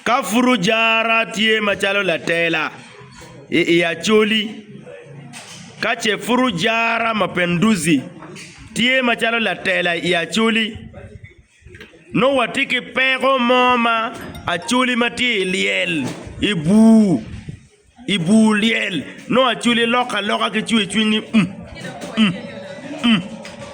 Ka pud ojara tye macalo latela i i Acholi, ka ce pud ojara Mapinduzi tye macalo latela i Acholi, nongo watye ki peko mo ma Acholi ma tye i lyel, i bur. I bur lyel, nongo acwali lok aloka ki cwercwiny ni, 'Um! Um! Um!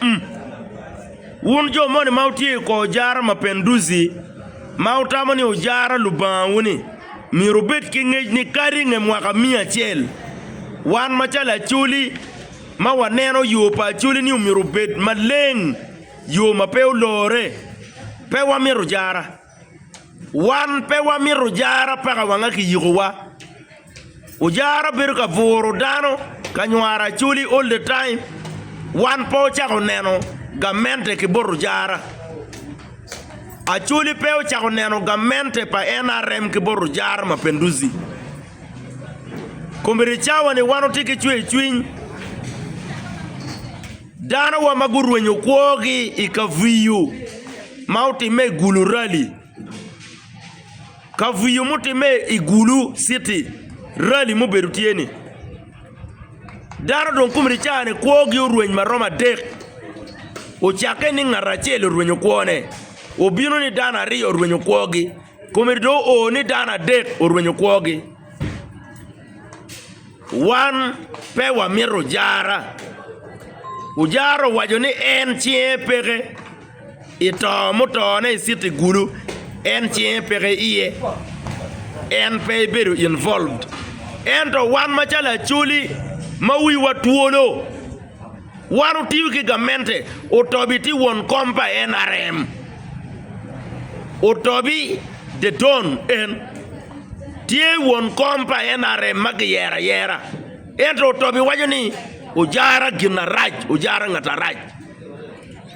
Um! Wun jo moni ma wutye i kor jara mapenduzi, ma wutamo ni wujara lubangawu-ni, myero wubed ki ngec ni kadi i nge mwaka miya acel, wan macalo acwali ma waneno yo pa acwali-ni myero obed maleng, yo ma pe olorre, pe wamito jara. Wan pe wamito jara paka wanga kiyikowa. Ojara bedo ka buro dano ka nywaro acholi all the time. Wan pe ocako neno gamente ki bot ojara. Acholi pe ocako neno gamente pa NRM ki bot ojara Mapenduzi. Komiti cawa ni wan watye ki cwercwiny. Danowa ma gurwenyo kwogi i kaviyo ma otimme i Gulu Rali. Kaviyo mutimme i Gulu citi rali mubedo tye ni. Dano dong komi licane kwogi orweny ma romo adek. Ocakke ni ngat acel orwenyo kwone, obino ni dano aryo orwenyo kwogi, komi dong oo ni dano adek orwenyo kwogi. Wan pe wamito ojara. Ojara owaco ni en cinge peke i to mutone i citi gulu en cinge peke iye en pe ebedo involved ento wan macalo acholi ma wiwa twolo Wan otiyo ki gamente. Otobi tye won kom pa NRM. Otobi the Don en tye won kom pa NRM ma kiyero ayera. Ento Otobi waco ni ojara gin arac, ojara ngat arac.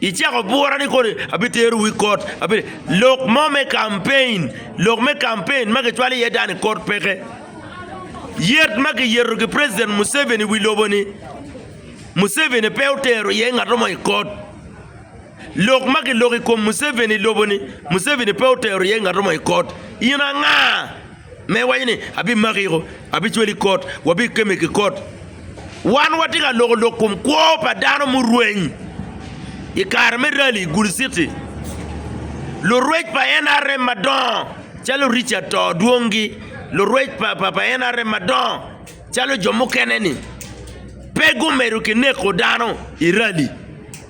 Icako bura ni kodi abitero wi kot, abi lok mo me kampein, lok me kampein ma kicwalo iye dani kot peke. Yet ma kiyeto ki President Museveni wi lobo ni Museveni pe otero iye ngato mo i kot. Lok ma kiloko i kom Museveni i lobo ni Museveni pe otero iye ngato mo i kot. In anga? Me waco ni, abimaki iko, abicweli i kot, wabikemi ki kot. Wan watye ka loko lok kom kwo pa dano murweny. I kare me rali i Gulu City, lurwec pa NRM madongo calo Richard to dwongi, lurwec pa NRM madongo calo jo mukene-ni pe gumedo ki neko dano i rali.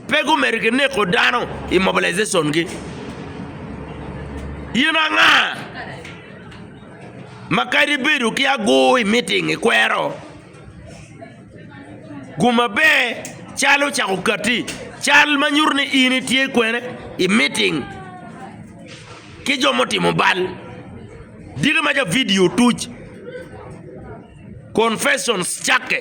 Pe gumedo ki neko dano i mobilization-gi. In anga ma kadi ibedo ki agur i miting ikwero? Gum maber cal ocako katti, cal ma nyuto ni in itye kwene i miting ki jo mutimo bal. Diki ma ca vidio otuc, confessions cakke.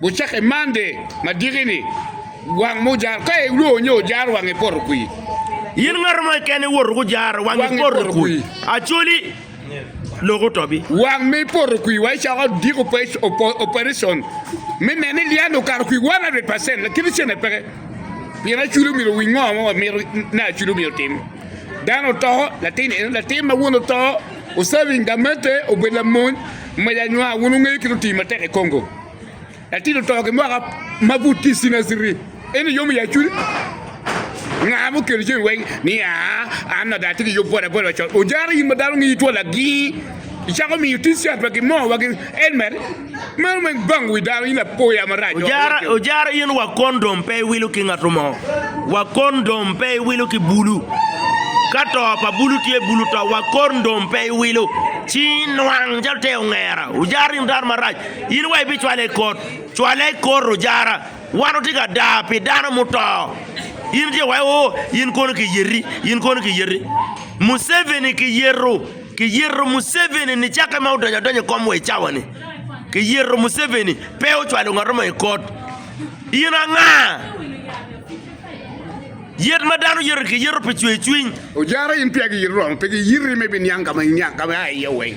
Gucakke Monday ma diki-ni, wang mo ojaro. Ka ilwor nyo ojaro wangi poto kwir. In ngato mo keken iwoto gujaro wangi poto kwir, actually lok oto bi. Wang me poto kwir wa icako diko operation me neno ni liyan okato kwir 100 percent lakit icene peke. Pien aculi omyero owiny ngo ma wamito ni aculi omyero otim. Dano oto, latin eno, latin ma wun oto, oserving gamette, obedo lamony, mac anywa, wun wungeyo kit otii matek i Congo. Latin oto ki mwaka ma pud tye cinaciri. En iyomo ya cwiny. Nga mo kelo cwiny weng ni aa an ada tye ki yub boda boda col. Ojara in ma dano ngi two lagi. Icako miyo ti cat wa gi mo wa gi en mer. Meno weng bang wi dano in lapoya marac. Ojara ojara in wa kondom pe iwilo ki ngato mo. Wa kondom pe iwilo ki bulu. Ka to pa bulu tye bulu to wa kondom pe iwilo. Ci nwang calo te ongera. Ojara in dano marac. In wa ibicwale i kot, cwale i kor ojara. Wan watye ka daa pi dano muto. In tye wa o, in kono kiyeti, in kono kiyeti. Museveni kiyeto, kiyeto Museveni ni cakke ma odonyo adonya i kom wa i cawa-ni. Kiyeto Museveni, pe ocwalo ngat mo i kot. In anga? Yet ma dano yeto-ni kiyeto pi cwercwiny. Ojara in peya giyiti romo pe giyiti me biniang ka ma iniang ka ma ia iye weng.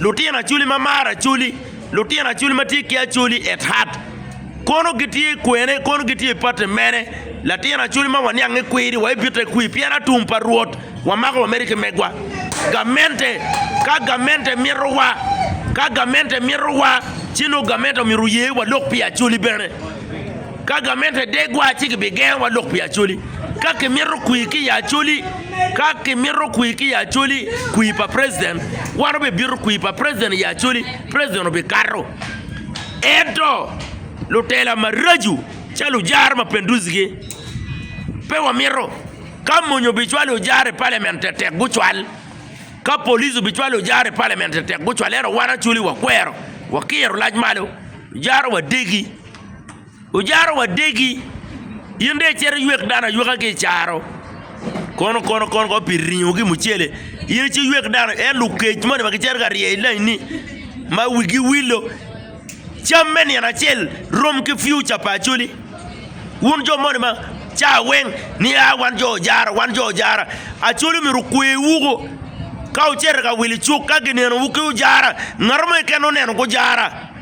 Lutino Acholi ma maro Acholi, Lutino Acholi ma tye ki Acholi at heart, Kono gitye kwene, kono gitye i pati mene? Latin Acholi ma waniange kwiri, waibite kwi? Pien atum pa Rwot, wamako wamedi ki megwa. Gamente, ka gamente mitowa, ka gamente mitowa, ci nongo gamente omyero oye walok pi Acholi bene. Ka gamente degwa ci gibigengowa lok pi Acholi. Ka kimito kwir ki i Acholi, ka kimito kwir ki i Acholi, kwir pa President, wan obibito kwir pa President i Acholi, President obikato. Ento lutela maraco calo ojara mapinduzi-gi pe wamito. Ka mony obicwalo ojara i Parliament tetek gucwal, ka police obicwalo ojara i Parliament tetek gucwal, ento wan Acholi wakwero, wakiro lac malo, ojara wadegi. Ojaro wadegi, in dong icito iywek dano ayweka ki i caro, kono kono kono kono pi ringo ki mucele, in icito iywek dano ayweka, en lukec moni ma gicito ka rye i lainni ma wigi wilo, cam me nino acel rom ki piuca pa Acholi, wun jo moni ma cawa weng ni a wan jo Ojara wan jo Ojara, Acholi myero okwewu ko, ka wucito ka wil icuk ka ginenowu ki Ojara, ngat mo keken oneno ki Ojara.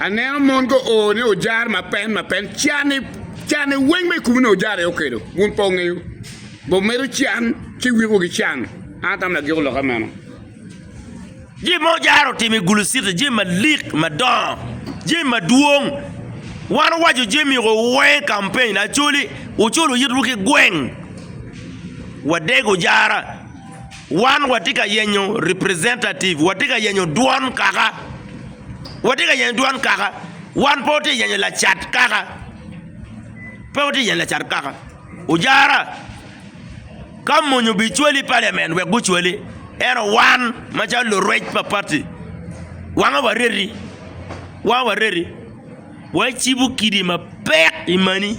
Aneno mon go o ni ojar ma pen ma pen can ni can ni weng me kumu ni ojar i okelo wun po ngeyo bo medo can ci wiko gi can an tam na giko loka meno jim mo ojaro timi gulu sita jim ma lik ma dongo jim ma dwong wan wajo jim i ko weng campaign na coli ucul uyit wu ki gweng wa deg ojara wan wa ti ka yenyo representative wa ti ka yenyo dwon kaka Watye ka yenyo dwan kaka? Wan pe watye ka yenyo lacat kaka? Pe watye ka yenyo lacat kaka? Ojara, ka mony obicwali i paliamen wek gucwali, ento wan macalo lurwec pa pati, wanga wareti, wanga wareti, wacibo kidi mapek i mani.